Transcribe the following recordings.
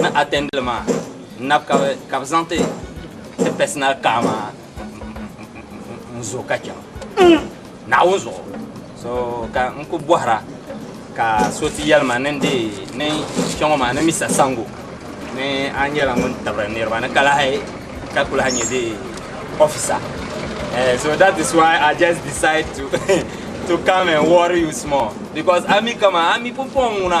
ni atɛndili maa nab ka bi zaŋ ti ti pɛsinal kaa maa n zo ka chɛŋ naawuni zuɣu so ka n ku bɔhira ka so ti yɛli ma ni n deei ni kpɛŋɔ maa ni misa sango ni a nyɛla ŋun tabiri niriba ni ka lahi ka ku lahi nyɛ di officer Eh, so that is why I just decide to to come and worry you small because ami kama ami pumpɔŋ ŋuna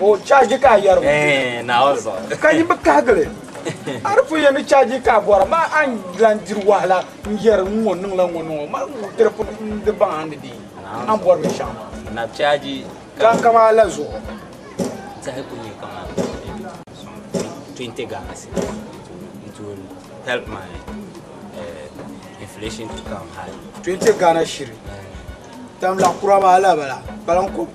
O chaaji ka a yɛri o ka yi bi kahigili a di pun yɛn ni chaaji ka a bɔra ma a ni lan diri wahala n-yɛri n ŋɔ niŋla ŋɔ niŋ o ma tiri pun di baŋ a ni di a ni bɔri binshɛɣu maa ka n kam a la zuɣu. Twenty Ghana shiri tam la kura maa lala bala.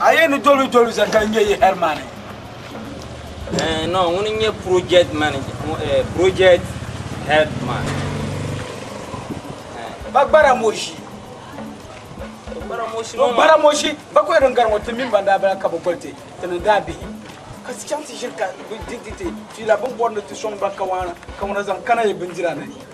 A yɛn ni doli doli zani ka nyɛ yi hɛrimani. Eh, no, ŋuni n-nyɛ project manager, eh, project headman. Eh. Ba gbara moshi. Ba gbara moshi. Ba gbara moshi. Ba kɔhiri n gari ŋɔ ti mini ban daa bala ka bi goli ti ti ni daa bihi. Ka ti chaŋ ti ʒiri ka ti ti ti ti ti la bin bɔri ni ti sɔŋ ba kawana kawana zaŋ kana yi bindira ni.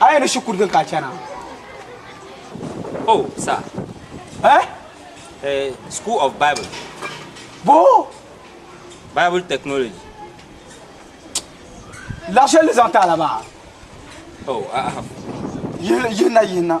A yi ni shikuru din ka chana. Oh, sir. Eh? Eh, School of Bible. Bo? Bible technology. Lashel zan tala ba. Oh, ah. Yihna yihna.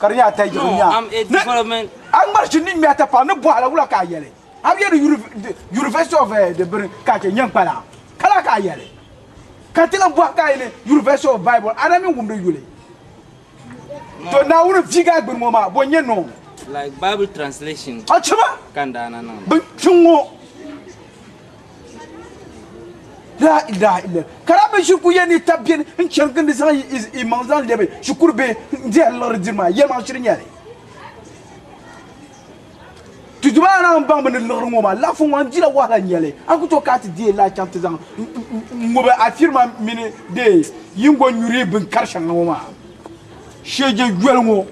ka di nyɛ a tɛligibu ni a ŋmari shini ni ŋmɛ a tapaɣu ni bɔhi la wula ka a yɛli a bi yɛli University of eh, di bini ka a chɛ nyɛn kpala ka la ka a yɛli ka ti lan bɔhi ka a yɛli University of Bible a na mi wumdi yuli to Naawuni viigi a gbini ŋɔ maa bɔ nyɛ noo like Bible translation a chima ka n daana niŋ bin kpiŋ ŋɔ La ilaha illa. Kara mi shikuru ya ni tabi beni n chani gindi zaŋ yi imaŋ zaŋ lɛbi shikuru bihi n dihi liɣiri diri maa yɛlimaŋ shiri nyɛli. Ti duba a naai n baŋ mi ni liɣiri ŋɔ maa laɣifu ŋɔ n dila wahala nyɛli a ku to ka a ti deei laa chaŋ ti zaŋ n ŋubi a firima mini dee yingo nyuri bin kari shɛŋa ŋɔ maa. Sheege yoli ŋɔ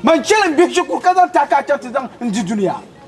man chɛli n bihi shikuru ka zaŋ taaka a chaŋ ti zaŋ n di dunia.